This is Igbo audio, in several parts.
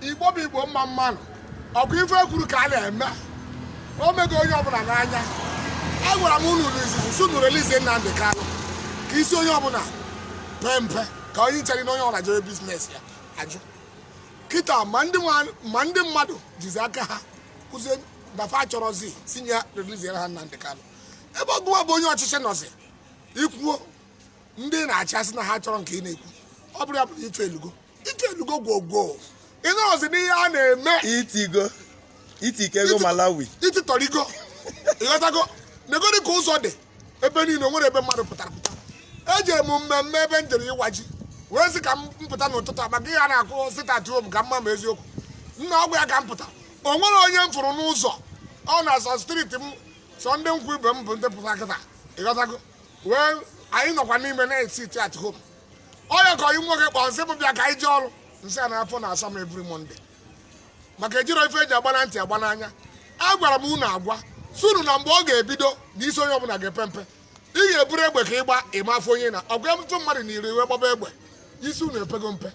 Igbo bụ Igbo mma mmanụ ọkwa ife ekwuru ka a na-eme o mego onye ọbụla n'anya a gwara m unu sị unu release Nnamdi Kanu ka isi onye ọbụla pee mpe ka onye nchere na onye ọbụla jere business ya ajụ kịta ma ndị mmadụ jizi aka ha kụzie dafa achọrọzi sị e releasiere ha Nnamdi Kanu ebe gụwa bụ onye ọchịchị nọzi ikwuo ndị na-achị asị na ha chọrọ nke ị na-ekwu ọ bụrụ ya pụrụ ịtụ elugo ịtụ elugo gwogwo ị nọzi n'ihe a na-eme itigo itike ego malawi ititọrigo ịghọtago negodi ka ụzọ dị ebe niile o nwere ebe mmadụ pụtara apụta ejere m mmemme ebe m jere ịwa ji wee sị ka m pụta n'ụtụtụ a maka ihe a na-akụ sit at home ka m ma ma eziokwu nna ọgwụ ya ka m pụta o nwere onye m fụrụ n'ụzọ ọ na-asọ street m sọ ndị nkwụ ibe m bụ ndị pụta kịta ịghọtago wee anyị nọkwa n'ime na sit at home onye ka onye nwoke kpọọ m sị m bịa ka anyị jee ọrụ m sị ya na-afọ na asọ m every Monday maka ejiro ife eji agba na ntị agba n'anya a gwara m unu agwa sị unu na mgbe ọ ga-ebido na isi onye ọbụla ga-epe mpe ị ga-eburu egbe ka ịgba ị ma afụ onye na ọgwa ọtụtụ mmadụ na iri iwe gbaba egbe isi unu epego mpe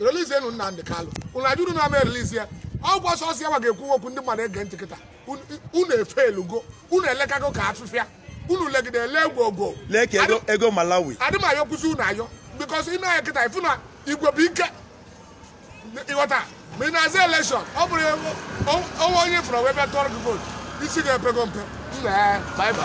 relizienu Nnamdi Kanu unu ajụrụ na ama erelizi ya ọkwa sọsọ ya ma ga-ekwu okwu ndị mmadụ ege ntị kịta unu efelugo unu elekago ka afịfịa unu legide ele egwu ogo lee ka ego ego malawi adị m ayọ kwụsị unu ayọ because ị na-anya kịta ịfụ na igwe bụ ike ịghọta ma ị na-azọ election ọ bụrụ ewu onwe onye fụrụ wee bịa tụọrọ gị vote isi gị epego mpe nna ya bye bye